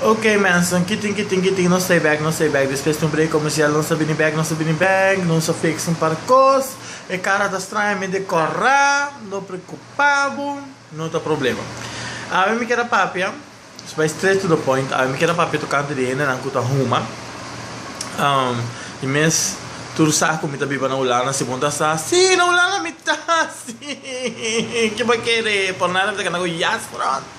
Okey mensen, kitin kitin kitin nos stay back nos stay back despues di un break comercial nos ta bini back nos ta bini back nos a fix un par cos e cara ta stranja mi decora no preocupa bo no ta problema awe mi kier a papia nos bay straight to the point awe mi kier a papia tocante di hende nan cu ta huma y mes tur sa cu mi ta biba na Hulanda si bon ta sa si na Hulanda mi ta si kiba kere por nada mi ta kanda cu yes front.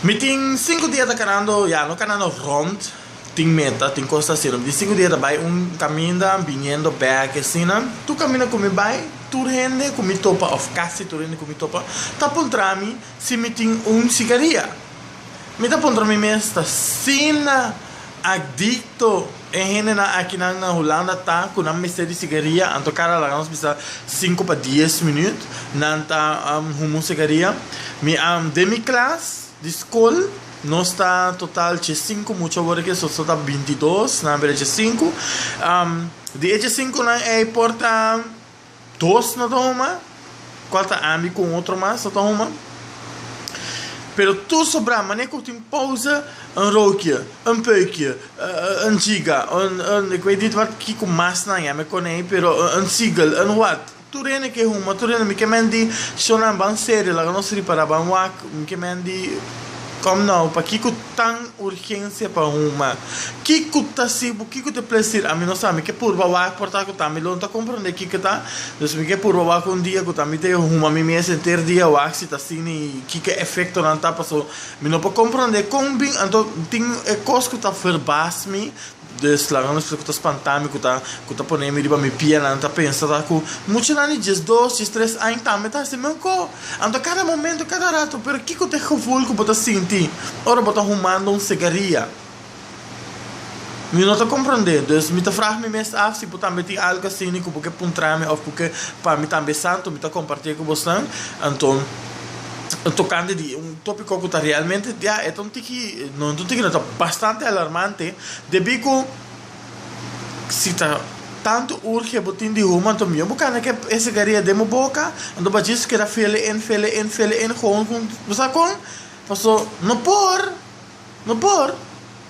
Mi tin sinku dia ta kanando ya no kanando rond tin meta tin cos ta hacendo mi tin sinku dia ta bay un caminda biniendo back y asina tur caminda cu mi bay tur hende cu mi topa of casi tur hende cu mi topa ta puntrami si mi tin un cigaria mi ta puntra mi mes ta asina adicto E hendenan akinan na Hulanda ta ku nan mester di sigaria, anto kada laga nos bisa sinku pa dies minüt nan ta humu sigaria. Mi den mi klas di skol nos ta total dje sinku mucha, awor ke so ta binti dos, nan a bira dje sinku. Di e dje sinkunan ei por ta. dos no ta homa, cual ta ambi cu un otro mas no ta homa, pero tur so bra mane cu tin pausa un rokie, un peukie, un giga, un un ik weet niet wat kico mas nan yama e konei pero un seagull, un wat, tur hende ke homa, tur hende mi ke menti shonan ban serio laga nos ripara ban wak, mi ke menti kom nou pakico tan urgencia pa un ma kico ta si bo kico te plesir ami no sa mi ke purba wak por ta cu ta mi lo no ta comprende kico ta dus mi ke purba wak un dia cu ta mi te huma mi mes enter dia wak si ta sin y kico efectonan ta paso mi no por comprende con bin anto tin e cos cu ta verbaas mi Des laga nos fla ku ta spantá mi, ku ta ku ta poné mi riba mi pia, nan ta pensa ta ku mucha nan di djes dos, djes tres aña tambe ta hasi mescó. Anto kada momento, kada rato, pero kiko ta e gevoel ku bo ta sinti ora bo ta humando un segaria? Mi no ta komprondé, dus mi ta fraha mi mes af si bo tambe tin algu asina ku bo ke puntra mi òf ku ke pa mi tambe esantu mi ta kompartié ku bosnan. Anto. tokante di un tópiko ku ta realmente ya e ta un tiki no e ta un tiki no ta bastante alarmante debí ku si ta tantu urge bo tin di human to miyon bo kanda ke e sigaria den bo boka anto bo a djis keda fele en fele en fele en gou bo sa kon paso no por no por.